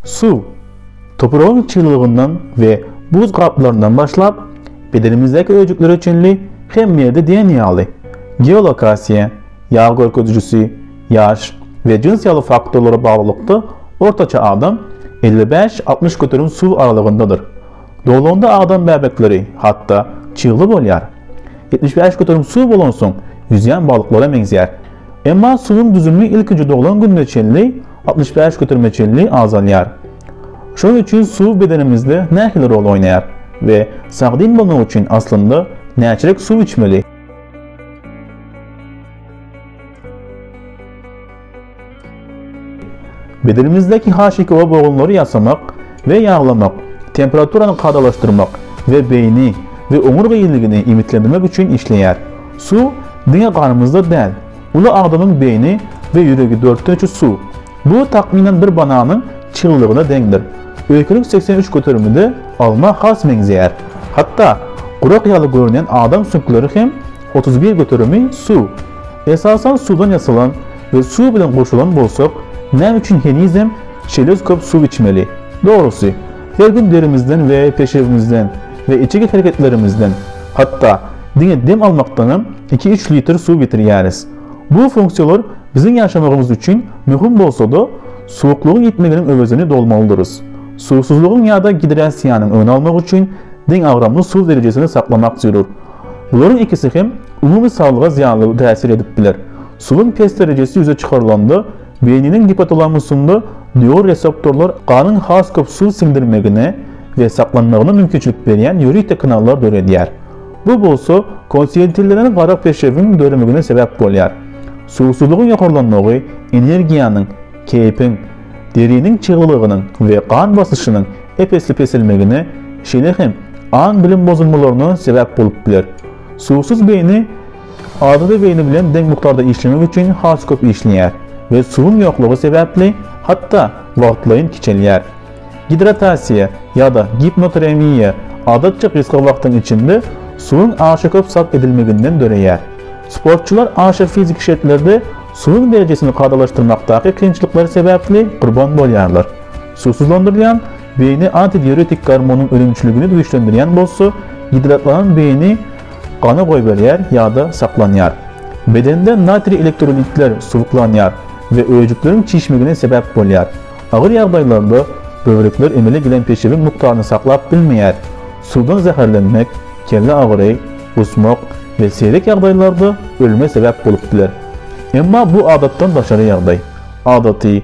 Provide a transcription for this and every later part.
Suw, topragyň çyglygyndan we buz gaplaryndan başlap, bedenimizdäki öýjüklere çenli hemme ýerde diýen ýaly, geolokasiýa, ýag görkezijisi, ýaş we jyns ýaly faktorlara baglylykda ortaça adam elli bäş-altmyş göterim suw aralygyndadyr. Doglanda adam bäbekleri, hatda, çygly bolýar. Ýetmiş bäş göterim suw bolansoň, ýüzýän balyklara meňzeýär. Emma suwuň düzümi ilkinji doglan gününe çenli, altmyş bäş göterime çenli azalýar. Şonuň üçin suw bedenimizde nähili rol oýnaýar we sagdyn bolmak üçin aslynda näçelik suw içmeli? Bedenimizdäki HKO bogunlary ýasamak we ýaglamak, temperaturany kadalaşdyrmak we beýni we oňurga ýiligini iýmitlendirmek üçin işleýär. Suw diňe ganymyzda däl. Uly adamyň beýni we ýüregi dörtden üçi suw. Bu takmynan bir bananyň çyglygyna deňdir. Öýkelek segsen üç göterimide alma has meňzeýär. Hatda gurak ýaly görünýän adam süňkleri hem otuz bir göterimi suw. Esasan suwdan ýasalan we suw bilen gurşalan bolsak, näme üçin henizem şeýle köp suw içmeli? Dogrusy, her gün derimizden we peşewimizden we içeki hereketlerimizden, hatda diňe dem almakdanam iki-üç litr suw ýitirýäris. Bu funksiýalar biziň ýaşamagymyz üçin möhüm bolsa-da, suwuklygyň ýitmeginiň öwezini dolmalydyrys. Suwsuzlygyň ýa-da gidrasiýanyň öňüni almak üçin deňagramly suw derejesini saklamak zerur. Bularyň ikisi hem umumy saglyga zyýanly täsir edip biler. Suwuň pes derejesi ýüze çykarylanda, beýniniň gipotalamusynda neuroreseptorlar ganyň has köp suw siňdirmegine we saklanmagyna mümkinçilik berýän ýörite kanallar döredýär. Bu bolsa konsentirlenen gara peşewiň döremegine sebäp bolýar. Suwsuzlygyň ýokarlanmagy energiýanyň, keýpiň, deriniň çyglylygynyň we gan basyşynyň ep-esli peselmegine, şeýle hem aň-bilim bozulmalaryna sebäp bolup biler. Suwsuz beýni Adaty beýni bilen deň mukdarda işlemek üçin has köp işleýär we suwuň ýoklugy sebäpli hatda wagtlaýyn kiçelýär. Gidratasiýa ýa-da gipnoteremiýa adatça gysga wagtyň içinde suwuň aşa köp sarp edilmeginden döreýär. Sportçylar aşa fiziki şertlerde suwuň derejesini kadalaşdyrmakdaky kynçylyklar sebäpli gurban bolýarlar. Suwsuzlandyrylýan Beýni antidiuretik gormonyň önümçiligini güýçlendirýän bolsa, gidratlanan beýni gana goýberýär ýa-da saklanýar. Bedende natriý elektrolitler suwuklanýar we öýjükleriň çişmegine sebäp bolýar. Agyr ýagdaýlarda böwrekler emele gelen peşewiň mukdaryny saklap bilmeýär. Suwdan zäherlenmek, kelle agyry, gusmak we seýrek ýagdaýlarda ölüme sebäp bolup biler. Emma bu adatdan daşary ýagdaý. Adaty,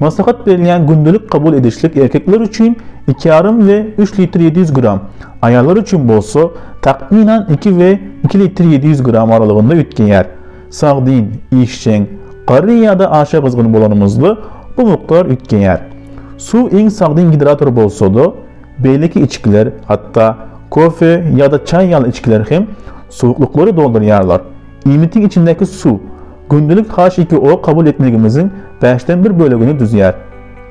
Maslahat berilýän gündelik kabul edişlik erkekler üçin iki ýarym we üç litr ýedi ýüz gram, aýallar üçin bolsa takmynan iki we iki litr ýedi ýüz gram aralygynda üýtgeýär. Sagdyn, işjeň, garry ýa-da aşa gyzgyn bolanymyzda bu mukdar üýtgeýär. Suw iň sagdyn gidrator bolsa-da, beýleki içgiler, hatda kofe ýa-da çaý ýaly içgiler hem suwuklyklary doldurýarlar. Iýmitiň içindäki suw. Gündelik HIPO kabul etmegimiziň bäşden bir bölegini düzýär.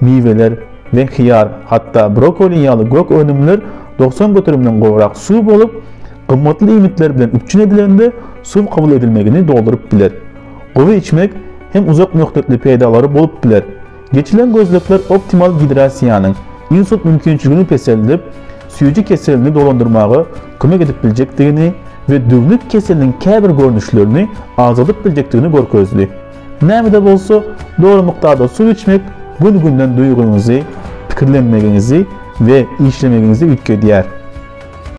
Miweler we hyýar, hatda brokoli ýaly gök önümler doksan göterimden gowrak suw bolup, gymmatly iýmitler bilen üpjün edilende suw kabul edilmegini dolduryp biler. Gowy içmek hem uzak möhletli peýdalary bolup biler. Geçilen gözlegler optimal gidrasiýanyň, insult mümkinçiligini peseldip, süýji keselini dolandyrmaga kömek edip biljekdigini we düwnük keseliniň käbir görnüşlerini azadyp biljekdigini görkezdi. Näme-de bolsa, dogry mukdarda suw içmek gün-günden duýgyňyzy, pikirlenmegiňizi we işlemegiňizi üýtgedýär.